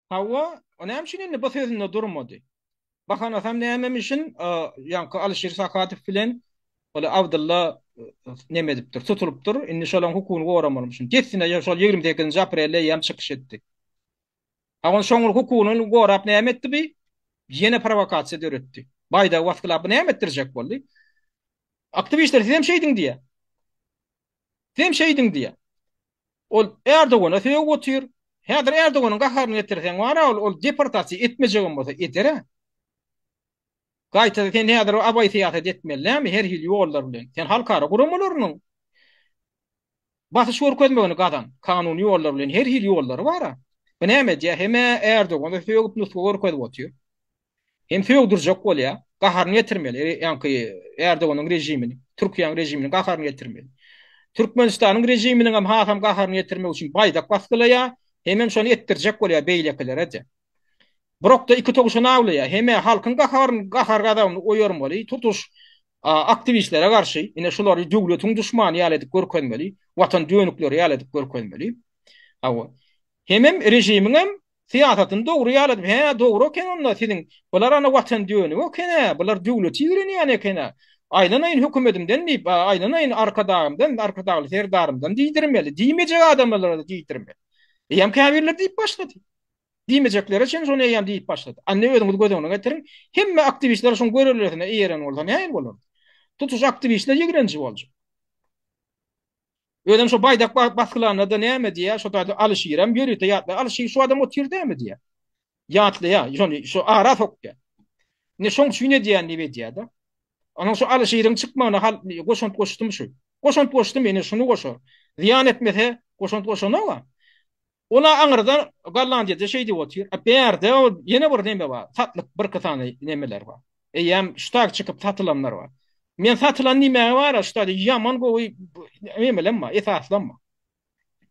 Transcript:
Hawa, o näme üçin indi bu sözünde durmady? Bahanasam nämem üçin, ýaňky Alyşir Sakadow bilen ol Abdylla näme edipdir, tutulypdyr. Indi şolaryň hukugyny goramaly üçin. Dessine şol ýigrimi sekizinji aprelde ýam çykyş etdi. Hawa, şoňur hukugyny gorap näme etdi bi? Ýene prowokasiýa döretdi. Baýdagy basgylap näme etdirjek boldy? Aktiwistler sizem şeýdiň diýýär. Sen şeýdiň diýýär. Ol Erdogana sögüp otyr. Häzir Erdoganyň gaharyny getirseň bar-a, ol ol deportasiýa etmejegem bolsa eder-ä. Gaýta sen häzir abaý syýasat etmeli näme, her hili ýollar bilen. Sen halkara guramalarynyň basyş görkezmegini gazan, kanuny ýollar bilen, her hili ýollary bar-a. Bu näme edýär, hem-ä Erdogana sögüp nusga görkezip otyr. Hem sögdürjek bolýa, gaharyny getirmeli, ýaňky Erdoganyň režimini, Türkiýäň režimini gaharyny getirmeli. Türkmenistanyň režiminiň hem hasam gaharyny getirmek üçin baýdak basgylaýa, hemem şony etdirjek bolýa beýlekilere-de. Birokda iki towşan awlaýa, hemä halkyň gaharyny, gahar-gazabyny oýarmaly, tutuş aktiwistlere garşy, ine şulary döwletiň duşmany ýaly edip görkezmeli, watan dönükleri ýaly edip görkezmeli. Hawa. Hemem režimiň hem Syýasatyny dogry ýaly edip, hä, dogry eken onda siziň, bular ana watan dönügi eken-ä, bular döwleti ýigrenýän eken-ä. Aýlanaýyn hökümetimden diýip, aýlanaýyn Arkadagymdan, Arkadagly Serdarymdan diýdirmeli, diýmejek adamlara-da diýdirmeli. Eýýäm käbirleri diýip başlady. Diýmejekleri üçin şony eýýäm diýip başlady. Anne özüňiz göz öňüne getiriň, hemme aktiwistler şuň görelgesine eýeren bolsa nähili bolardy? Tutuş aktiwistler ýigrenji boljak. Özem şo baýdak basgylanda-da näme diýýär, şo taýda Alyşirem ýörite ýatlaýar. Alyşir şu adam otyr dälmi diýýär. Ýatlaýar, şony şu ara sokýar. Indi şoň üçin edýän diýip edýär-de. Onuň şu Alyşiriň çykmagyna hal goşant goşdum şu. Goşant goşdum, ine şuny goşar. Zyýan etmese, goşant goşan-a. Ol-a aňyrdan Gollandiýada şeý diýip otyr. A bärde ol ýene bir neme bar, satlyk birki sany nemeler bar. Eýýäm ştag çykyp satylanlar bar. Men satylan diýmäge bar-a, ştady ýaman gowy nemelenma, esaslanma.